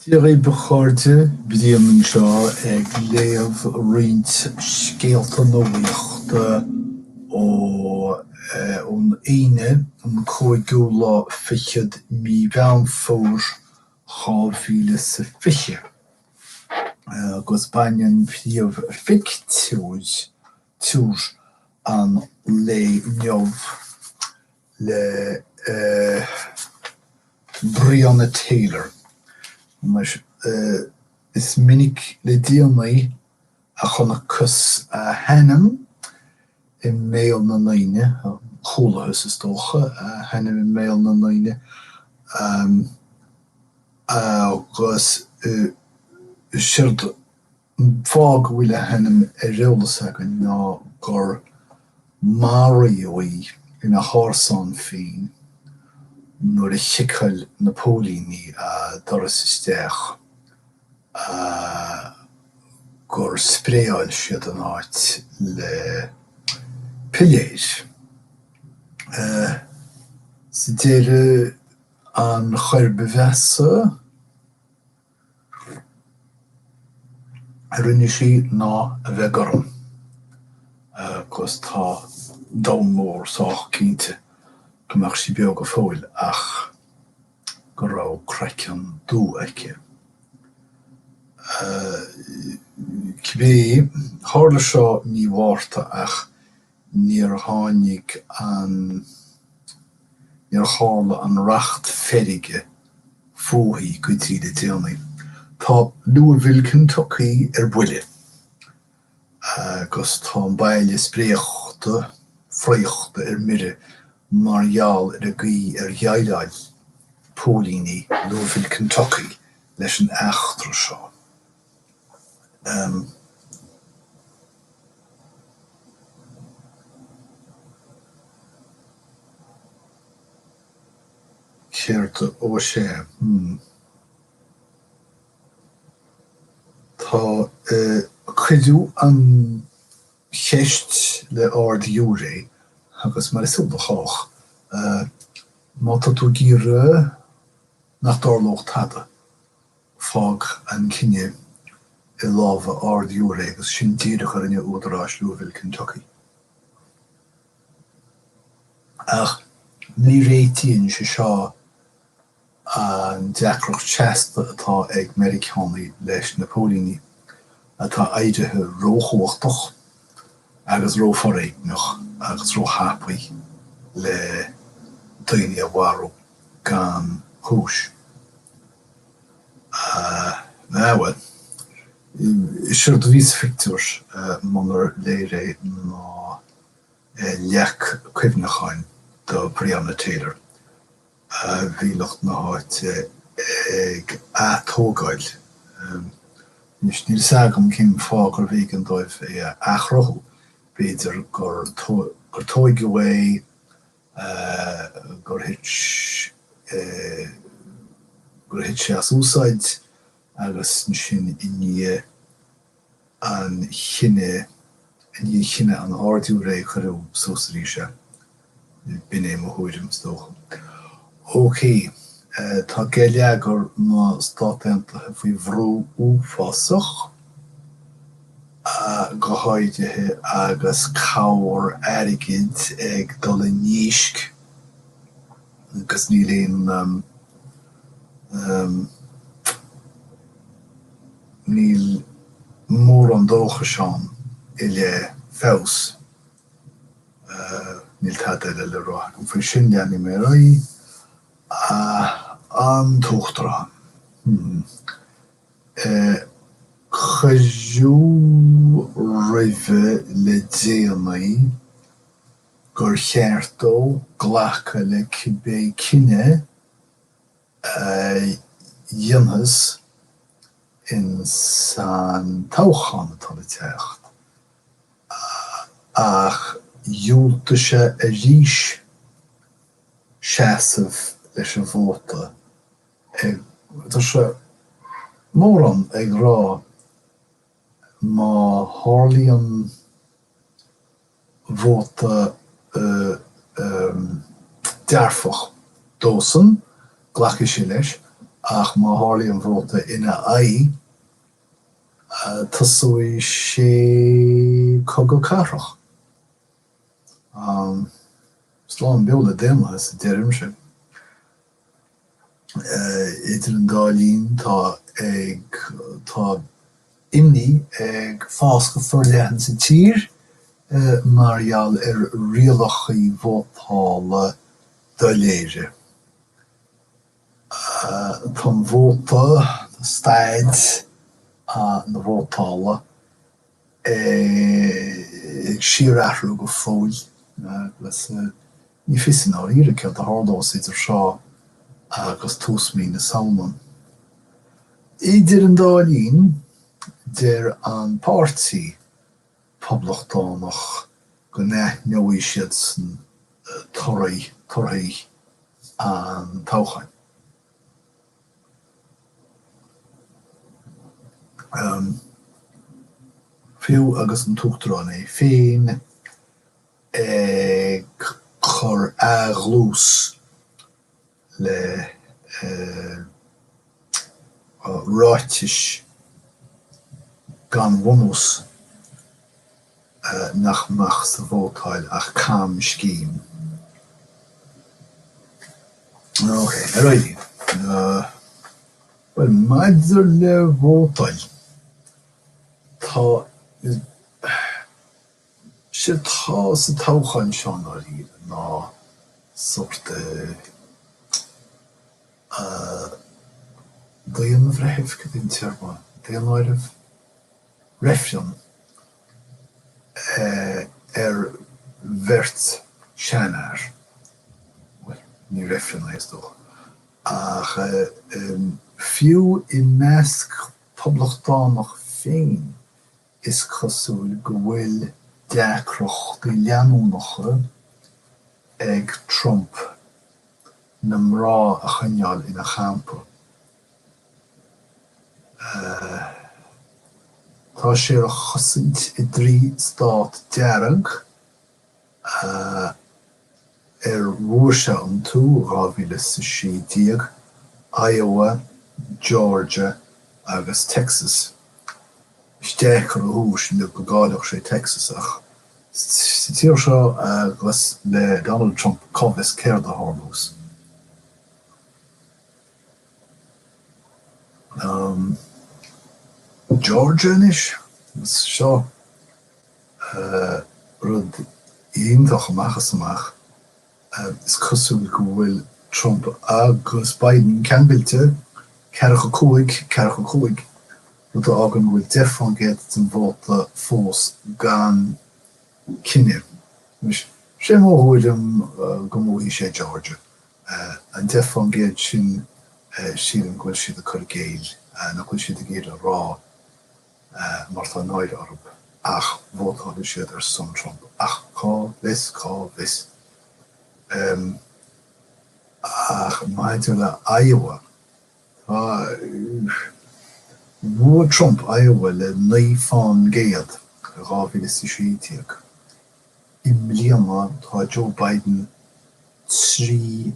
Dia dhaoibh a chairde, Brian anseo ag léamh roinnt scéalta nuaíochta ón Aoine an cúigiú lá fichead mí Mheán Fómhair dhá mhíle is a fiche agus baineann príomhphictiúr an lae inniu, le Breonna Taylor. Anois, is minic le déanaí a chonacthas a hainm i mbéal na ndaoine, chualathas, is dócha, a hainm i mbéal na ndaoine agus séard An fáth go bhfuil a hainm ar eolas againn ná gur maraíodh í ina hárasán féin nuair a chiceáil na póilíní a doras isteach agus gur spraeáil siad an áit le piléir. Sa deireadh, an choir ba mheasa. a rinne sí ná a bheith gorm, agus tá an domhan mór sách cinnte go mbeadh sí beo go fóill ach go raibh craiceann dubh aici. Cibé, tharla seo mí Mhárta ach níor tháinig an, níor tharla an racht feirge fúithi go dtí le déanaí. Tá Louisville, Kentucky ar buile agus tá an baile spréachta, fraochta ar mire mar gheall ar an gcaoi ar dhéileáil póilíní Louisville, Kentucky leis an eachtra seo. Céard a. Ó, is ea. Hm. Tá cuireadh an cheist le Ard-Ghiúiré agus, mar is eol do chách, má tá tú ag iarraidh nach dtarlódh tada, Fág an cinneadh i lámha Ard-Ghiúiré agus sin díreach a rinne údaráis Louisville, Kentucky. Ach ní réitíonn sé seo an deacracht seasta atá ag Meiriceánaigh leis na póilíní atá éirithe róchumhachtach agus rófhoréigneach agus róthapaidh le daoine a mharú gan chúis. Sea, bhuel. Is éard a bhí sa phictiúr, munar léir é, ná leac cuimhneacháin do Breonna Taylor. Bhí lucht na háite ag atógáil. Anois, níl 's agam cén fáth gurbh éigean dóibh é a athchruthú. B'fhéidir gur tóigeadh é gur thit sé, gur thit sé as úsáid agus ansin i ndiaidh an chinnidh, i ndiaidh chinneadh an Ardghiúiré cuireadh suas arís é. B'in é mo thuairim, is dócha. OK. Tá geilleagar na Stát Aontaithe faoi bhrú uafásach, go háirithe agus cabhair airgid ag dul i ndísc, agus níl aon níl mórán dóchais ann i leith feabhas. Níl tada eile le rá agam faoi sin, leanfaidh mé ar aghaidh. An tUachtarán, Hm. Cuireadh roimhe le déanaí gur cheart dó glacadh le cibé cinneadh a dhéanfas in san toghchán atá le teacht. Ach dhiúltaigh sé arís seasamh leis an vóta, ag Tá sé mórán ag rá má tharlaíonn vóta dearfach dósan, glacfaidh sé leis, ach má tharlaíonn vóta ina aghaidh, Tosóidh sé cogadh cathrach. Slán beo le daonlathas, a deirimse. Idir an dá linn tá ag tá imní ag fás go forleathan sa tír mar gheall ar rialachaí vótála doiléire. Tá an vóta, staid na vótála ag síor-athrú go fóill agus ní fios i ndáiríre céard a tharlós idir seo agus tús mhí na Samhna. Idir an dá linn, deir an páirtí. Poblachtánach go n-aithneoidh siadsan torthaí, an toghcháin. Fiú agus an tUachtarán é féin ag cur athdhlús le ráitis gan bhunús nach mbeadh sa vótáil ach camscéim. OK. Right. Bhuel, maidir le vótáil, tá. Sé atá sa toghchán seo i ndáiríre ná sórt daonbhreithimh, cad é an téarma, daonáireamh? reifreann ar bheirt seanfhear, bhuel, ní reifreann é is dócha, ach fiú i measc poblachtánach féin Is cosúil go bhfuil deacrachtaí leanúnacha ag Trump na mná a choinneáil ina champa. Tá sé á chosaint i dtrí stát dearg ar bhuaigh sé iontu, 2016, Iowa, Georgia agus Texas. Is deacair a thuiscint anois go gcaillfeadh sé Texas ach sa tír seo agus le Donald Trump cá bhfios céard a tharlós. Georgia anois? Seo. Rud iontach amach is amach. Is cosúil go bhfuil Trump agus Biden ceangailte, ceathracha a cúig, ceathracha a cúig, rud a fhágann go bhfuil deich fán gcéad den vóta fós gan cinneadh. Anois, sé mo thuairim go mbuafaidh sé Georgia. An deich fán gcéad sin, sílim go bhfuil siad ag cur i gcéill, nach bhfuil siad ag iarraidh a rá. mar tá náire orthu, ach vótálfaidh siad ar son Trump, ach cá bhfios, cá bhfios. Ach maidir le Iowa, tá, bhuaigh Trump Iowa le naoi fán gcéad i 2016. I mbliana tá Joe Biden trí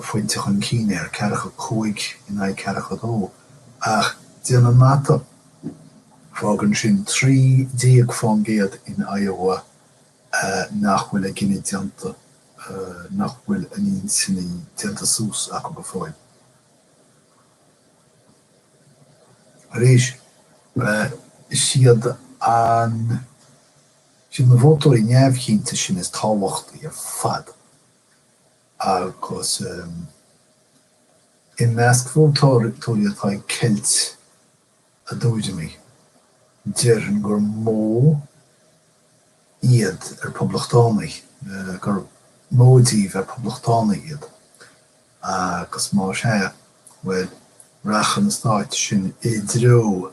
phointe chun cinn air, ceathracha a cúig in aghaidh ceathracha a dó, ach déan an mata, fágann sin trí déag fán gcéad in Iowa nach bhfuil a gcinneadh déanta, nach bhfuil a n-intinní déanta suas acu go fóill. Arís, is iad an. Is iad na vótóirí neamhchinnte sin is tábhachtaí ar fad agus i measc vótóirí atá ag ceilt a dtuairimí, déarfainn gur mó iad ar Poblachtánaigh, gur mó díobh ar Poblachtánaigh iad agus má sea, bhuel, rachaidh na stáit sin i dtreo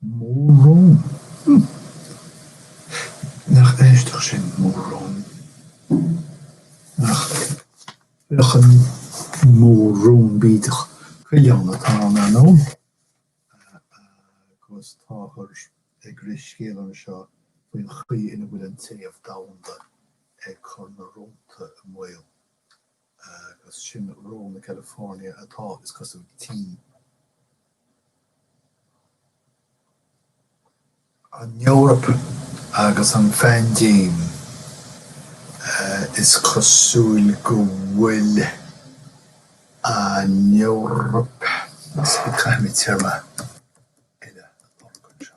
Mór-rón. Humph. Nach aisteach sin, mór-rón. Nach beadh an mór-rón bídeach, coileán atá ann anonn agus táthar ag rith scéal anseo faoin chaoi ina bhfuil an téamh domhanda ag cur na rónta i mbaol. agus sin rón na California atá, is cosúil, tinn. An Eoraip agus an phaindéim, is cosúil go bhfuil an Eoraip, caithfidh mé téarma eile a lorg anseo,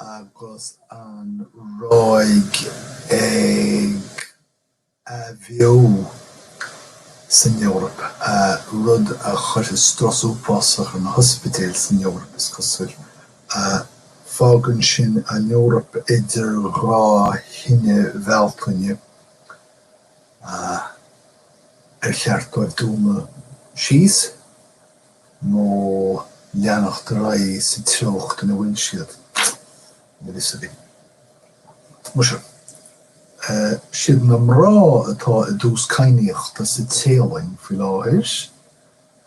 agus an ráig agus an ráig athbheo san Eoraip, rud a chuirfidh strus uafásach ar na hospidéil san Eoraip, is cosúil. Fágann sin an Eoraip idir dhá thine Bhealtaine ar cheart dóibh dúnadh síos, nó leanacht ar aghaidh sa treocht ina bhfuil siad, níl a fhios againn. Muise, siad na mná atá i dtús cadhnaíochta sa Téalainn faoi láthair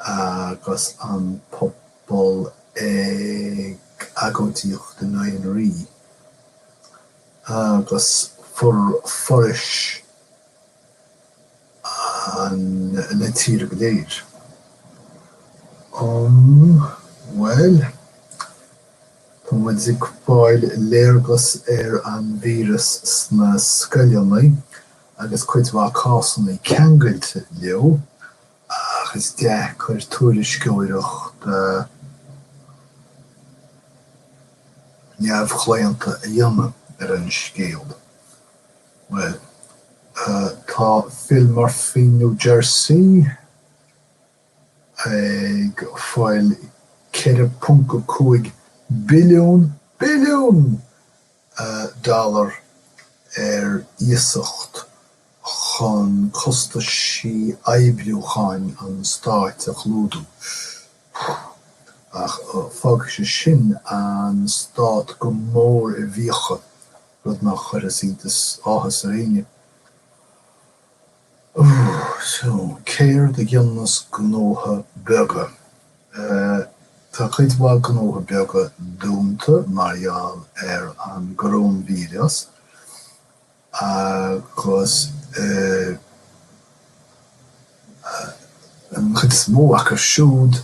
agus an pobal ag agóidíocht in aghaidh an rí agus forais an na tíre go léir. Om Bhuel, tá muid ag fáil léargas ar an víreas sna scoileannaí agus cuid mhaith cásanna ceangailte leo, ach is deacair tuairisceoireacht neamhchlaonta a dhéanamh ar an scéal. Bhuel. Tá Phil Murphy New Jersey ag fáil 4.5 billiún, billiún! dollar ar iasacht chun costaisí oibriúcháin an stáit a chlúdú. Ach fágfaidh sé sin an stát go mór i bhfiacha. rud nach gcuirfeadh iontas, áthas ar éinne. Sea, céard a dhéanfas gnóithe beaga? Tá cuid mhaith gnóithe beaga dúnta mar gheall ar an gcoróinvíreas agus an chuid is mó acu siúd,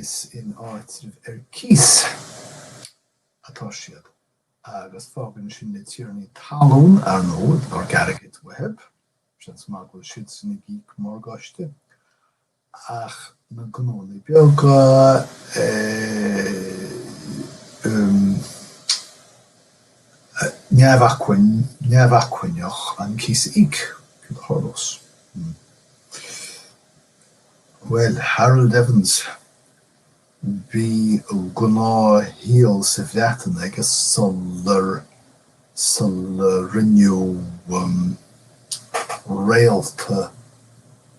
Is in áitreabh ar cíos atá siad agus fágann sin na tiarnaí talún, ar ndóigh, airgead uathu, seans maith go bhfuil siadsan ag íoc morgáiste, ach na gnónna beaga neamhacmhainn, neamhacmhainneach an cíos a íoc, céard a tharlós. Bhuel, Harold Evans, bhí gnáthshaol sa Bhreatain aige sular, sular rinneadh réalta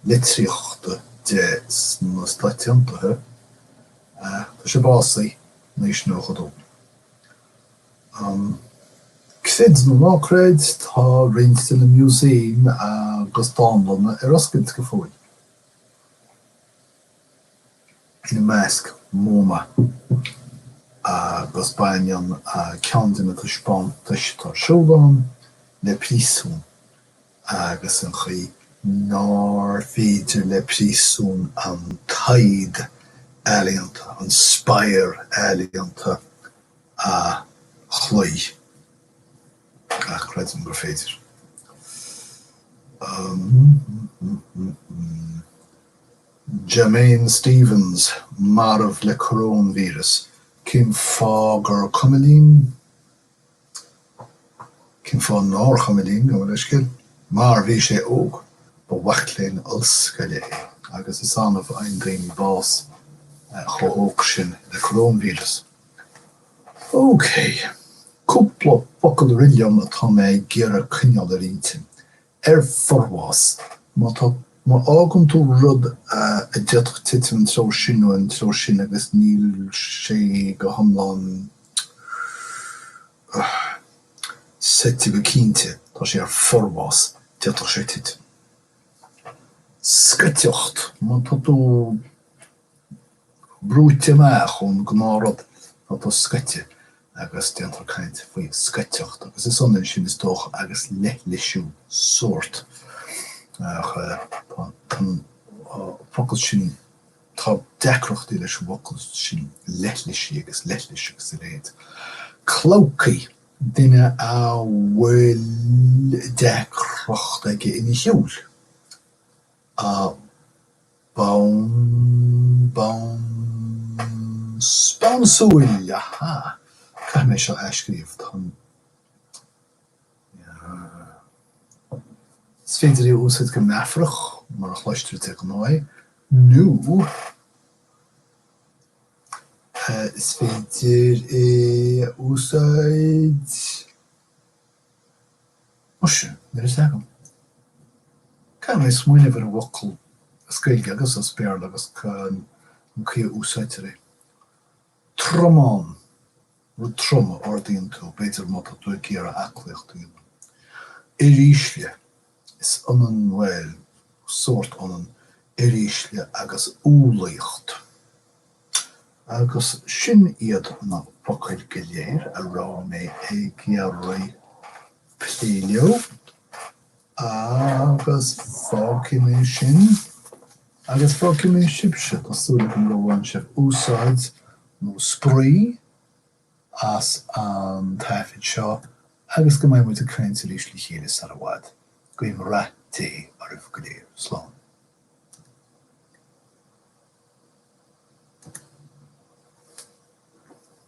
litríochta de sna Stáit Aontaithe. Tá sé básaithe in aois a 92. Á, creid nó ná creid, tá roinnt de na musaeim agus dánlanna ar oscailt go fóill, ina measc MoMA, agus baineann ceann de na taispeántais atá ar siúl ann le príosún agus an chaoi nár féidir le príosún an taghd ealaíonta, an spor ealaíonta, a chloí. Ach creidim gur féidir. Jamain Stephens marbh le coróinvíreas, cén fáth gur cuma linn? Cén fáth nár chuma linn? Gabh mo leithscéal. Mar bhí sé óg, ba mhac léinn ollscoile é agus is annamh a fhaigheann daoine bás chomh hóg sin le coróinvíreas. OK. Cúpla focal a rith liom atá mé ag iarraidh coinneáil ar intinn. ar forbhás, má tá, má fhágann tú rud a d'fhéadfadh titim an treo sin nó an treo sin agus níl sé go hiomlán suite go cinnte, tá sé ar forbhás, d'fhéadfadh sé titim. scoiteacht, má tá tú. brúite amach ón ngnáth rud atá scoite agus déantar caint faoi scoiteacht agus is ionann sin is dócha agus leithlisiú sórt ach an focal sin, tá deacrachtaí leis an bhfocal sin leithlisigh agus leithlis agus a leithéid. Clabhcaí, duine a bhfuil deacracht aige ina shiúl. A bom bom Spawnsúil! Aha! Caithfidh mé seo a athscríobh. Tá an. Is féidir é a úsáid go meafarach, mar a chloistear de ghnáth é, nó is féidir é a úsáid. Muise, níl a fhios agam. Caithfidh mé smaoineamh ar an bhfocal as Gaeilge agus as Béarla agus an chaoi a úsáidtear é. Tromán. Rud trom a ardaíonn tú, b'fhéidir má tá tú ag iarraidh aclaíochta. Uirísle. Is ionann, bhuel, sórt ionann uirísle agus umhlaíocht. Agus sin iad na focail go léir a raibh mé ag iarraidh plé leo, agus fágfaidh mé sin, agus fágfaidh mé sibhse, tá súil agam gur bhain sibh úsáid, nó spraoi, as an taifead seo agus go mbeidh muid ag caint arís le chéile sar i bhfad. Go raibh rath Dé oraibh go léir. Slán.